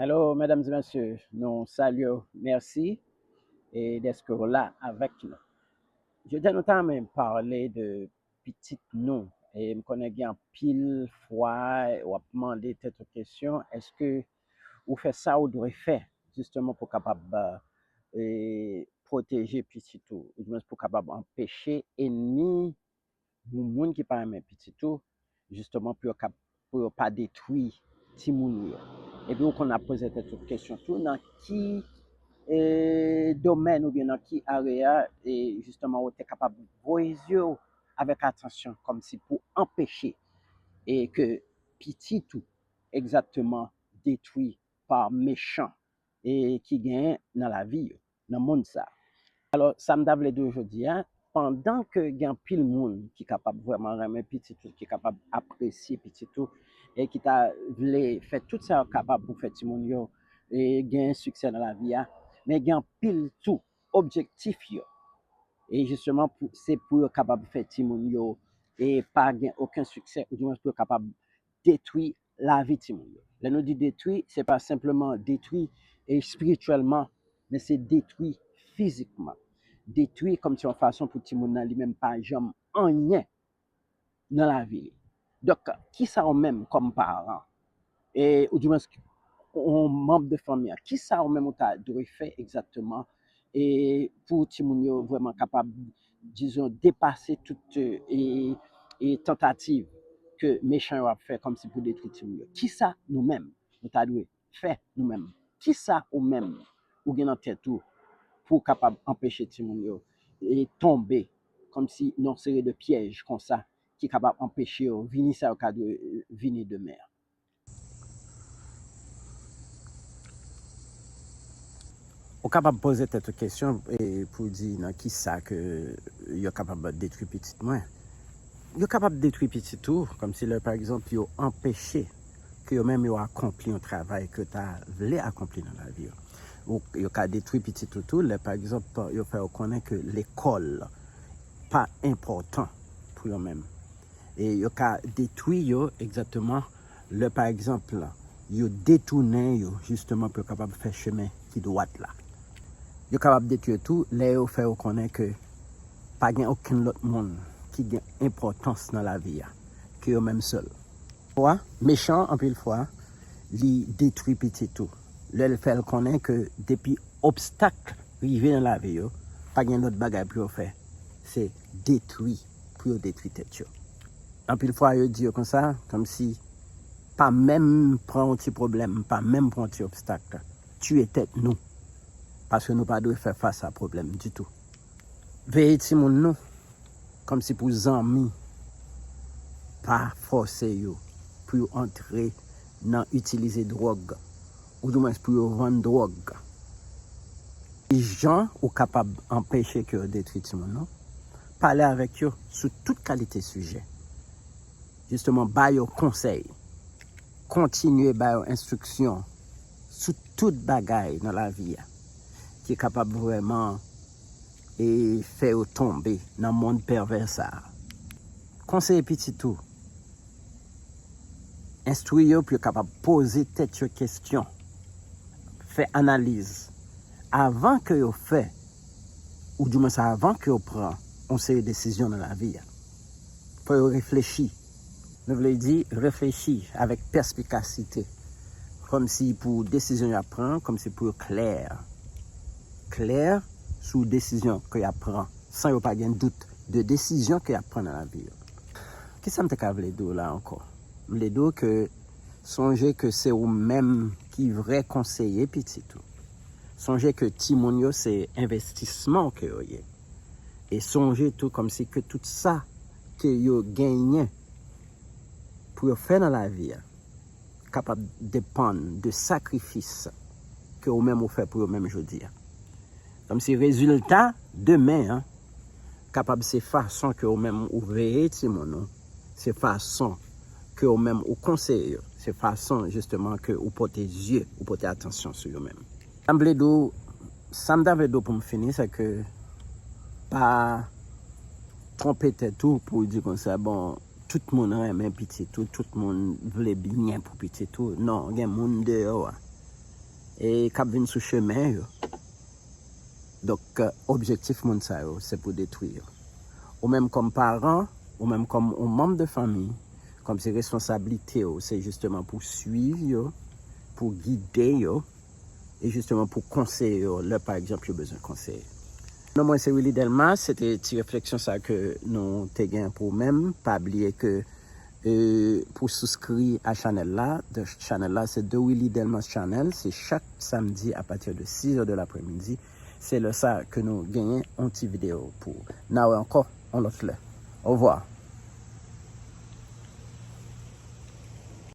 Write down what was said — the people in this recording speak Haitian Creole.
Hello mesdames et messieurs, nou salye w, mèsi e deske w la avèk nou. Jodi nou ta renmen pale de pitit nou e m konnen gen anpil fwa w ap mande tèt ou kesyon eske ou fè sa ou dwe fè jisteman pou kapab e pwoteje pitit ou oudimens pou kapab anpeche enmi Pou moun ki pa renmen pitit ou jisteman pou yo kap pou yo pa detwi timoun ou yo. Epi ou konn ap poze tèt ou kesyon tou nan ki e domèn oubyen nan ki area e jisteman ou te kapab voye zye ou avèk atansyon kòmsi pou anpeche e ke pitit ou egzakteman detwi pa mechan e ki genyen nan lavi yo. nan mond sa. Alò, sa m ta vle di w jodi a, pandan ke gen anpil moun ki kapab vrèman renmen pitit ou, ki kapab apresye pitit ou, e ki ta vle fè tout sa yo kapab pou fè timoun yo gen siksè nan lavi a, men gen anpil tou, objektif yo, e jisteman pou se pou yo kapab fè timoun yo pa gen oken siksè, oudimwens pou yo kapab detwi lavi timoun yo. Lè nou di detwi, se pa senpleman detwi espirityèlman, men se detwi fizikman. Detwi kòmsi yon fason pou timoun nan li menm pa janm anyen nan lavi li. Donk, ki sa ou menm kòm paran, e ou di mwenske yon manm de fanmi an, ki sa ou menm ou ta dwe fè egzakteman e pou timoun yo vrèman kapab dizon depase tout e e tantativ ke mechan yo ap fè kòmsi pou detwi timoun yo. Kisa nou menm nou ta dwe fè nou menm? Kisa ou menm ou gen nan tèt ou pou w kapab anpeche timoun yo e tonbe kòmsi nan yon seri de pyèj konsa ki kapab anpeche yo vini sa yo ka dwe vini demen an? Ou kapab poze tèt ou kesyon pou di nan ki sa ke yo kapab detwi pitit mwen. Yo kapab detwi pitit ou, kòmsi lè pa egzanp yo anpeche ke yo menm yo akonpli yon travay ke yo ta vle akonpli nan lavi yo. Yo ka detwi pitit ou tou lè pa egzanp yo fè ou konnen ke lekòl pa enpòtan pou yo menm. e yo ka detwi yo egzakteman lè pa egzanp yo detounen yo jisteman pou yo kapab fè chemen ki dwat la. Yo kapab detwi yo tou lè yo fè yo konnen ke pa gen okenn lòt moun ki gen enpòtans nan lavi a ke yo menm sèl. Fwa, mechan anpil fwa li detwi pitit ou lè l fè l konnen ke depi obstak rive nan lavi yo pa gen lòt bagay pou yo fè se detwi. pou yo detwi tèt yo. Anpil fwa yo di yo konsa kòmsi pa menm pran yon ti pwoblèm, pa menm pran yon ti obstak tiye tèt nou paske nou pa dwe fè fas a pwoblèm ditou. Veye timoun nou kòmsi pou zanmi pa fòse yo pou yo antre nan itilize dwòg. Oudimwens pou yo vann dwòg. Ki jan ou kapab anpeche ke yo detwi timoun ou? Pale avèk yo sou tout kalite sijè. Jisteman ba yo konsèy. Kontinye ba yo enstriksyon sou tout bagay nan lavi a ki kapab vrèman e fè yo tonbe nan mond pèvè sa a. Konseye pitit ou Enstwi yo pou yo kapab poze tèt yo kesyon, fè analiz, avan ke yo fè, ou di mwens avan ke yo pran yon seri desizyon nan lavi a. Fò yo reflechi. Nou vle di, reflechi avèk pèspikasite, kòm si pou desizyon y ap pran an, kòm si pou yo klè, klè sou desizyon ke y ap pran, san yo pa gen dout de desizyon ke y ap pran nan lavi yo. Kisa m te ka vle di w la ankò? M vle di w ke sonje ke se ou menm ki vrè konseye pitit ou. Sonje ke timoun yo se envestisman w ke yo ye. E sonje tou kòmsi ke tout sa ke yo genyen pou yo fè nan lavi a kapab depann de sakrifis ke ou menm ou fè pou yo menm jodi a. Kòmsi rezilta demen an. kapab se fason ke ou menm ou veye timoun ou, se fason ke ou menm ou konseye yo, se fason jisteman ke ou pote zye, ou pote atansyon sou yo menm. Sa m vle di w, sa m ta vle di w pou m fini se ke pa twonpe tèt ou pou w di konsa bon tout moun renmen pitit ou, tout moun vle byen pou pitit ou, non gen moun deyò a e k ap vin sou chemen yo. Donk objektif moun sa yo se pou detwi yo. Ou menm kòm paran, ou menm kòm yon manm de fanmi, kòmsi responsablite ou se jisteman pou swiv yo, pou gide yo, e jisteman pou konseye yo lè pa egzanp yo bezwen konseye. Non mwen se Willy Delmas, se te ti refleksyon sa ke nou te gen pou menm, pa bliye ke E pou souskri a chanèl la, chanèl la se The Willy Delmas Channel, se chak samdi a pati de 6 è de laprè midi, se lè sa ke nou genyen yon ti video pou ou. Na wè ankò yon lòt lè. Ovwa!